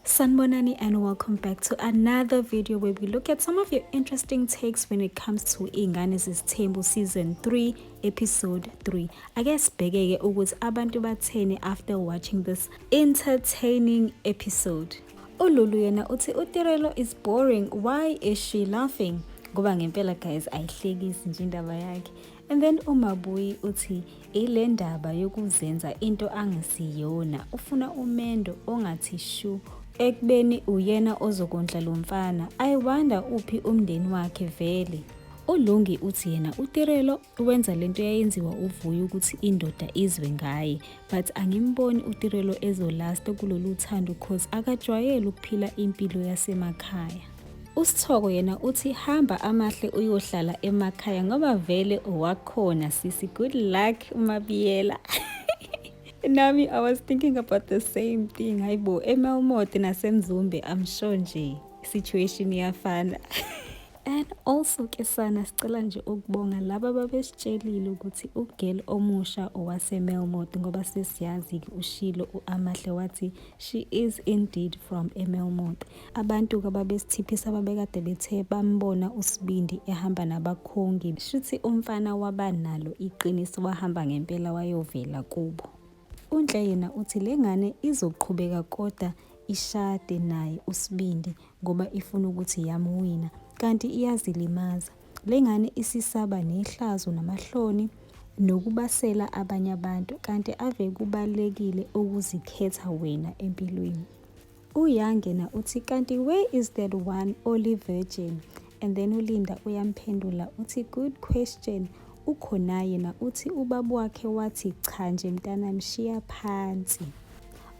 Sanbonani and welcome back to another video where we look at some of your interesting takes when it comes to Ingane Zesithembu season 3 episode 3. Ake sibhekeke ukuthi abantu batheni after watching this entertaining episode. Ululu yena uthi uTirelo is boring why is she laughing? Ngoba ngempela guys ayihlekisi nje indaba yakhe. And then uMabuyi uthi ile ndaba yokuzenza into angesiyona ufuna umendo ongathi shu ekubeni uyena ozokondla lo mfana i wonder uphi umndeni wakhe vele ulungi uthi yena utirelo wenza lento yayenziwa uvuyo ukuthi indoda izwe ngaye but angimboni utirelo ezolasta kulolu thando cause akajwayele ukuphila impilo yasemakhaya USithoko yena uthi hamba amahle uyohlala emakhaya ngoba vele owakhona sisi good luck uMabiyela nami i was thinking about the same thing hayibo emelmoti nasemzumbe i'm sure nje situation iyafana and also ke sana sicela nje ukubonga laba babesitshelile ukuthi ugirl omusha owasemelmot ngoba sesiyazi-ke ushilo u-amahle wathi she is indeed from emelmot Abantu kababesithiphisa babekade bethe bambona uSibindi ehamba nabakhongi. Shuthi umfana waba nalo iqiniso wahamba ngempela wayovela kubo. UNhle yena uthi le ngane izoqhubeka koda ishade naye uSibindi ngoba ifuna ukuthi yamuwina kanti iyazilimaza. Le ngane isisaba nehlazo namahloni nokubasela abanye abantu kanti ave kubalulekile ukuzikhetha wena empilweni. Uyangena uthi kanti where is that one oli virgin and then ulinda uyamphendula uthi good question ukhona yena uthi ubaba wakhe wathi cha nje mntana mshiya phansi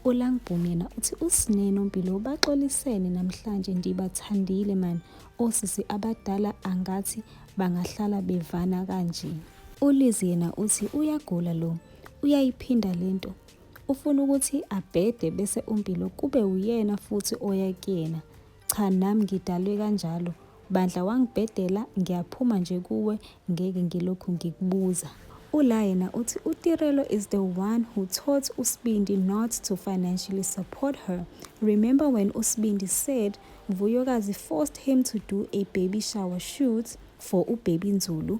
ulangibhumi yena uthi usinene umpilo ubaxolisene namhlanje ndibathandile mani osisi abadala angathi bangahlala bevana kanje ulizi yena uthi uyagula lo uyayiphinda lento Ufuna ukuthi abhede bese uMpilo kube uyena futhi oya kuyena. Cha nami ngidalwe kanjalo. Bandla wangibhedela ngiyaphuma nje kuwe ngeke ngilokhu ngikubuza. Ula yena uthi uTirelo is the one who taught uSibindi not to financially support her. Remember when uSibindi said Vuyokazi forced him to do a baby shower shoot for uBaby Nzulu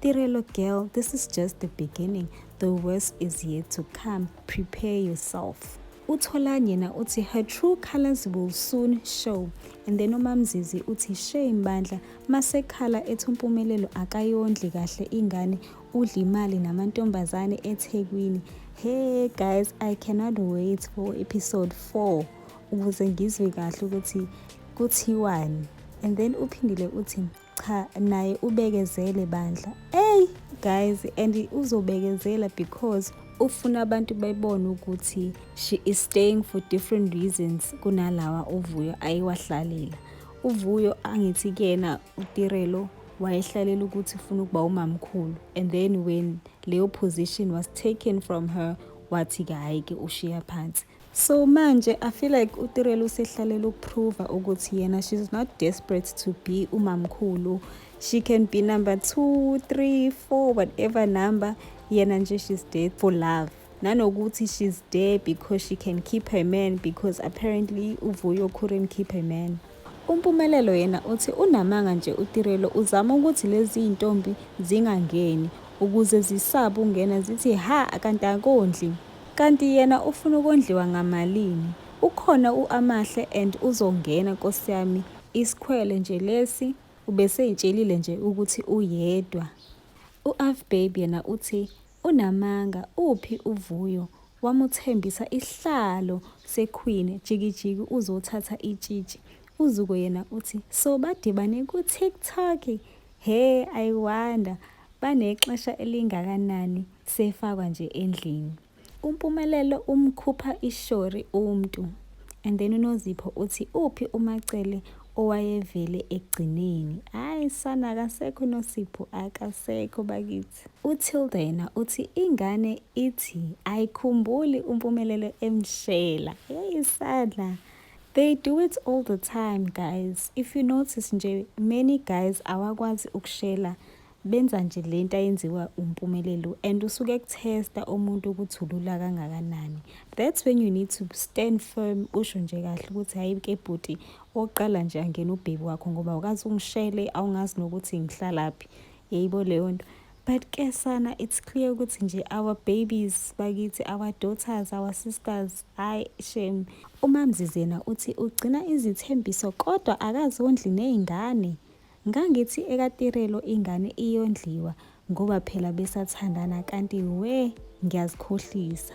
Tirelo girl, this is just the beginning. The worst is yet to come. Prepare yourself. utholani yena uthi her true colors will soon show and then umamzizi uthi shame bandla masekhala ethi umpumelelo akayondli kahle ingane udla imali namantombazane ethekwini hey guys i cannot wait for episode 4 ukuze ngizwe kahle ukuthi kuthiwani and then uphindile uthi cha naye ubekezele bandla ey guys and uzobekezela because ufuna abantu bebone ukuthi she is staying for different reasons kunalawa uvuyo ayiwahlalela uvuyo angithi kuyena utirelo wayehlalela ukuthi ufuna ukuba umamkhulu and then when leyo position was taken from her wathi-ke hhayi-ke ushiya phansi So manje I feel like uTirelo usehlalela ukuprova ukuthi yena she's not desperate to be umamkhulu. She can be number 2, 3, 4 whatever number yena nje she's there for love. Nanokuthi she's there because she can keep her man because apparently uVuyo couldn't keep her man. UMpumelelo yena uthi unamanga nje uTirelo uzama ukuthi lezi ntombi zingangeni ukuze zisaba ungena zithi ha kanti akondli. Kanti yena ufuna ukondliwa ngamalini? Ukhona uAmahle and uzongena nkosi yami. Iskhwele nje lesi ubeseyitshelile nje ukuthi uyedwa. UAvbabe yena uthi Unamanga uphi uVuyo wamuthembisa isihlalo seQueen jikijiki uzothatha itshitshi uZuko yena uthi so badibane ku TikTok he I wonder banexesha elingakanani sefakwa nje endlini. UMpumelelo umkhupha ishori umntu and then uNozipho uthi uphi uMacele owayevele ekugcineni. Hayi sana akasekho uNosipho akasekho bakithi. UTilda yena uthi ingane ithi ayikhumbuli uMpumelelo emshela. Hey sadla. They do it all the time guys. If you notice nje many guys awakwazi ukushela benza nje lento ayenziwa uMpumelelo and usuke kutesta umuntu ukuthi ulula kangakanani. That's when you need to stand firm usho nje kahle ukuthi hayi ke bhuti oqala nje angena ubhebi wakho ngoba ukazi ungishele awungazi nokuthi ngihlalaphi. yayibo leyo nto but ke sana it's clear ukuthi nje our babies bakithi our daughters our sisters hayi shame umamzizi yena uthi ugcina izithembiso kodwa akazondli ney'ngane ngangithi ekatirelo ingane iyondliwa ngoba phela besathandana kanti we ngiyazikhohlisa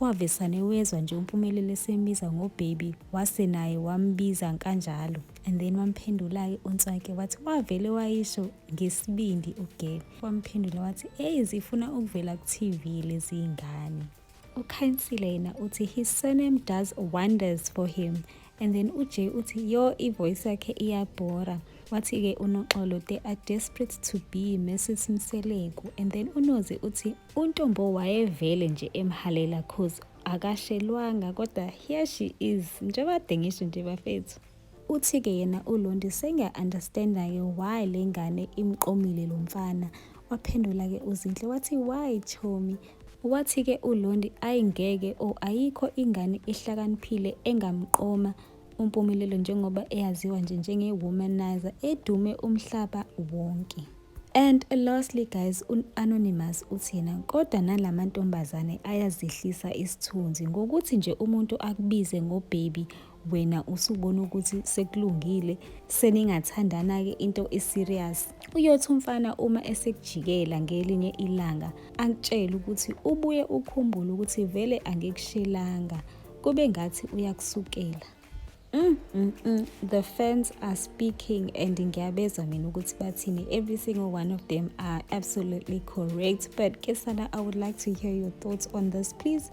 Wavesane wezwa nje uMpumelelo esemiza ngobaby wase naye wambiza kanjalo and then wamphendula-ke uNtswake wathi wavele wayisho ngesibindi ugebe wamphendula wathi eyi zifuna ukuvela ku-TV lezi ngane. UKhansile yena uthi his surname does wonders for him and then uJay uthi yo ivoice yakhe iyabhora wathi-ke unoxolo they are desperate to be mrs mseleku and then unozi uthi untombo wayevele nje emhalela cause akashelwanga kodwa here she is njengoba kade ngisho nje bafethu uthi-ke yena ulondi sengiya-understanda-ke why le ngane imqomile lo mfana waphendula-ke uzinhle wathi why chomi Wathi-ke uLondi, ayi ngeke o oh, ayikho ingane ehlakaniphile engamqoma uMpumelelo njengoba eyaziwa nje njenge-womanizer edume umhlaba wonke. And lastly guys, u-Anonymous uthi yena kodwa nala mantombazane ayazehlisa isithunzi ngokuthi nje umuntu akubize ngo-baby wena usubona ukuthi sekulungile seningathandana-ke into eserious uyothi umfana uma esekujikela ngelinye ilanga akutshele ukuthi ubuye ukhumbule ukuthi vele angikushelanga kube ngathi uyakusukela Mm, mm, mm. The fans are speaking and ngiyabezwa mina ukuthi bathini. Every single one of them are absolutely correct. But Kesana, I would like to hear your thoughts on this. Please